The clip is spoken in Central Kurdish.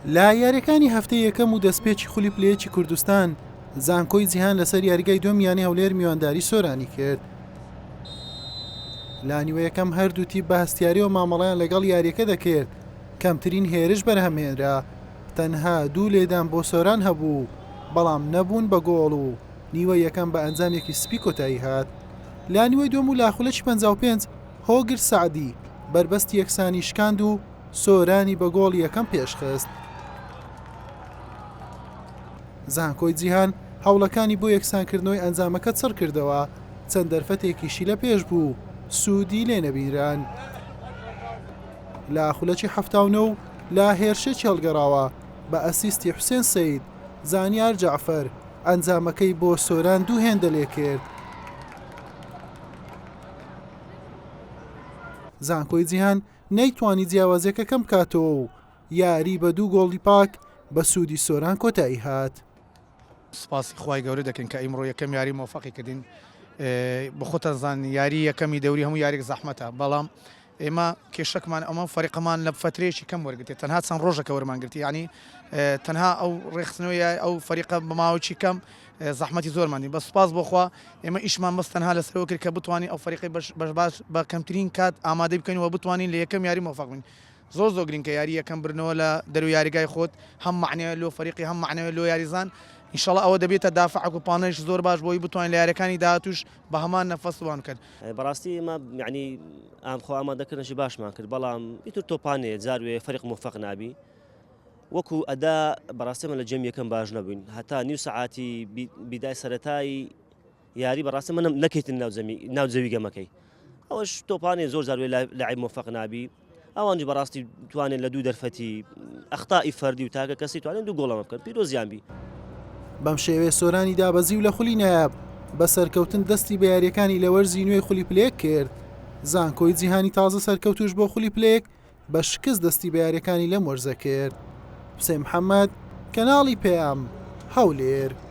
لە یاریەکانی هەفتەی یەکەم و دەستپێکی خولی پلەیەکی کوردستان زانکۆی جیهان لەسەر یاریگای دوم یانی هەولێر میوانداری سۆرانی کرد لانیوەیەکەم هەردووتی بە هەستیاری و مامەڵیان لەگەڵ یاریەکە دەکرد کەمترین هێرش بەرهەمهێنرا تەنها دوو لێدان بۆ سۆران هەبوو بەڵام نەبوون بە گۆڵ و نیوە یەکەم بە ئەنجامێکی سپی کۆتایی هات لانیوەی دوم و لاخولەکی 55 هۆگر سەعدی بەربەستی یەکسانی شکاند و سۆرانی بە گۆڵی یەکەم پێشخست. زانکۆی جیهان هەوڵەکانی بۆ یەکسانکردنەوەی ئەنجامەکە چڕکردەوە، چەند دەرفەتێکیشی لە پێش بوو، سوودی لێ نەبینران. لە خولەکی حەفتا و نۆ و لە هێرشێکی هەڵگەڕاوە بە ئەسیستی حوسێن سەید، زانیار جەعفەر ئەنجامەکەی بۆ سۆران دوو هێندە لێکرد. زانکۆی جیهان نەیتوانی جیاوازیەکە کەم بکاتەوە و یاری بە دوو گۆڵی پاک بە سوودی سۆران کۆتایی هات. سپاسی خوای گەورە دەکەین کە ئیمڕۆ یەکەم یاری مۆفەقی کردین بە خۆتان زانین یاری یەکەمی دەوری هەموو یاریێک زەحمەتە بەڵام ئێمە کێشەکمان ئەمە فەرقەمان لە فترەیەکی کەم وەرگتێت تەنها چەند ڕۆژەکە وەرمانگرتی ینی تەنها ئەو ڕێخستنەوەی ئەو فەریقە بەماوەکی کەم زەحمەتی زۆرمانی بە سپاس بۆخوا ئێمە ئیشمان بەس تەنها لەسەرەوە کرد کە بتوانین ئەو فەریقی بەش باش بە کەمترین کات ئامادە بکەین و بتوانین لە یەکەم یاری مۆفەقین زۆر زۆر گرنگکە یاری یەکەم برنەوە لە دەرو یاریگای خۆت هەم معنەیە لۆ فەریقی هەم معنەوە لۆ یاریزان انشاءڵ ئەوە دەبێتە دافعک و پانەش زۆر باش بۆی بتوانین لە یارەکانی داهاتوش بە هەمان نەفەس وام کرد. بەڕاستی ئێمە یەعنی ئام خۆ ئامادەکردنەشی باشمان کرد بەڵام ئیتر تۆپانێ جار وێ فەرق مۆفەق نابی وەکو ئەدا بەڕاستی من لە جێم یەکەم باش نەبووین هەتا نیو سەعاتی بیدای سەتایی یاری بەڕاستی منم نەکەیتن ناوجەمی ناوجەوی گەمەکەی ئەوش تۆپانێ زۆر جار وێ لای مۆفەق نابی ئەوانیش بەڕاستی توانیان لە دوو دەرفەتی ئەختا ئی فەردی و تاکە کەسی توانیان دوو گۆڵەمە بکەن پیرۆزیان بی. بەم شێوەیە سۆرانی دابەزی و لە خولی نایاب بە سەرکەوتن دەستی بە یارییەکانی لە وەرزی نوێی خولی پلە یەک کرد. زانکۆی جیهانی تازە سەرکەوتووش بۆ خولی پلە یەک بە شکست دەستی بە یارییەکانی لەم وەرزە کرد. حوسێن محەمەد، کەناڵی پەیام، هەولێر.